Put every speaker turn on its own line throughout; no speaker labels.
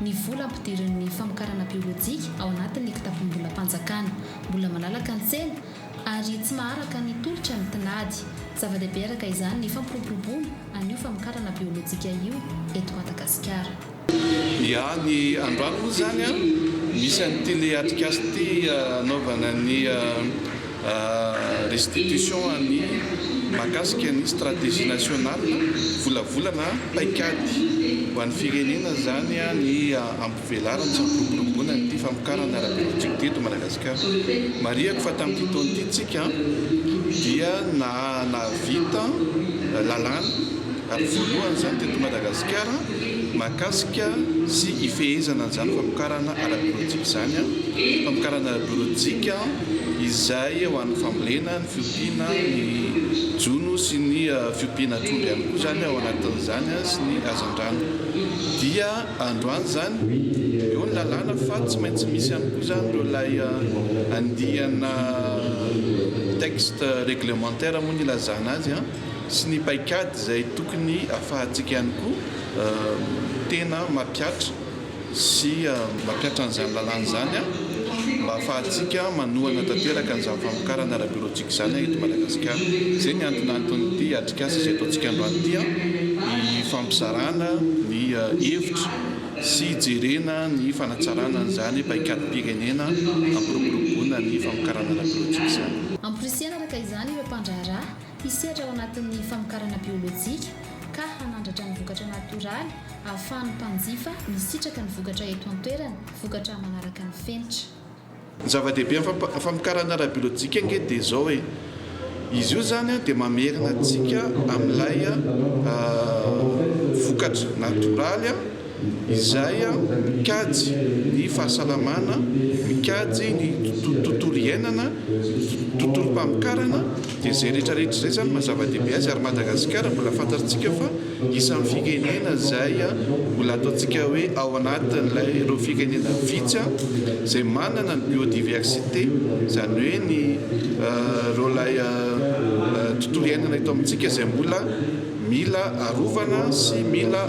ny vola ampidirin'ny famokarana biolojika ao anatin'ny kitapom-bolam-panjakana, mbola malalaka ny tsena ary tsy maharaka ny tolotra ny tinady. Zava-dehibe araka izany ny fampiroboroboana an'io famokarana biolojika io eto Madagasikara. Ny
any Andrano moa izany misy an'ity le atrikasa ity anaovana ny Restitution an'ny mahakasika ny stratégie nationale, volavolana paikady ho an'ny firenena izany ny hampivelarany sy hampiroboroboana ity famokarana ara-biologique ity eto Madagasikara. Marihako fa tamin'ity taona ity tsika dia nahavita lalàna ary voalohany izany teto Madagasikara mahakasika sy hifehezana an'izany famokarana ara-biologique izany, famokarana ara-biologique. izay ho an'ny fambolena, ny fiompiana, ny jono sy ny fiompiana trondro ihany koa izany ao anatin'izany sy ny hazandrano dia androany izany eo ny lalàna fa tsy maintsy misy ihany koa izany ireo ilay andiana texte réglementaire moa ny ilazana azy an sy ny paikady izay tokony hafahantsika ihany koa tena mampiatra sy mampiatra an'izany lalàna izany mba hahafahantsika manohana tanteraka an'izany famokarana ara-biolojika izany eto Madagasikara. Izay ny antonanton'ity atrikasa izay ataontsika androany ity, hifampizarana ny hevitra sy hijerena ny fanatsarana an'izany paikadim-pirenena hampiroboroboana ny famokarana ara-biolojika izany. Hamporisihana araka
izany ireo mpandraharaha hisehatra ao anatin'ny famokarana biolojika ka hanandratra ny vokatra natoraly Ahafahan'ny mpanjifa misitraka ny vokatra eto an-toerana, vokatra manaraka ny fenitra. Ny zava-dehibe
amin'ny famokarana ara-biolojika ange dia izao e, izy io izany dia mamerina antsika amin'ilay vokatra natoraly izay mikajy ny fahasalamana, mikajy ny tontolo iainana, ny tontolom-pamokarana. Dia izay rehetra rehetra izay izany maha zava-dehibe azy ary Madagasikara mbola fantatsika fa isan'ny firenena izay mbola ataontsika hoe ao anatin'ilay ireo firenena vitsy izay manana ny biodiversité izany hoe ny ireo ilay tontolo iainana eto amintsika izay mbola mila arovana sy mila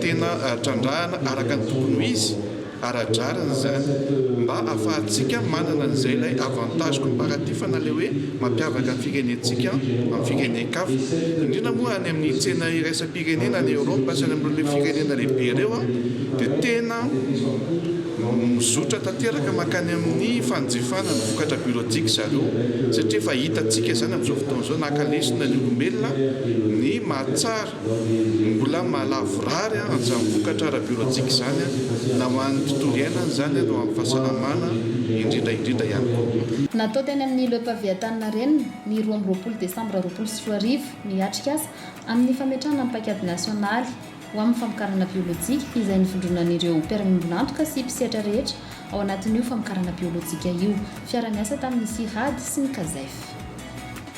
tena trandrahana araka ny tokony ho izy. Ara-drariny izany mba ahafahantsika manana an'izay ilay avantage comparatif na ilay hoe mampiavaka ny firenentsika amin'ny firenen-kafa. Indrindra moa any amin'ny tsena iraisam-pirenena any Europe sy any amin'ireo firenena lehibe ireo dia tena mizotra tanteraka mankany amin'ny fanjifana ny vokatra biologique zareo satria efa hitantsika izany amin'izao fotoana izao naka lesona ny olombelona ny maha tsara Mbola mahalavorary amin'izany vokatra ara-biolojika izany na ho an'ny tontolo iainana izany ary ho an'ny fahasalamana indrindra indrindra ihany koa. Natao teny amin'ny Le
Pavé Antaninarenina, ny roa amby roapolo desambra roapolo sy roa arivo, ny atrikasa amin'ny fametrahana ny paikady nasionaly ho amin'ny famokarana biolojika izay nivondronan'ireo mpiara-miombon'antoka sy mpisehatra rehetra ao anatin'io famokarana biolojika io, fiara-niasa tamin'ny CIRAD sy ny CAZEF.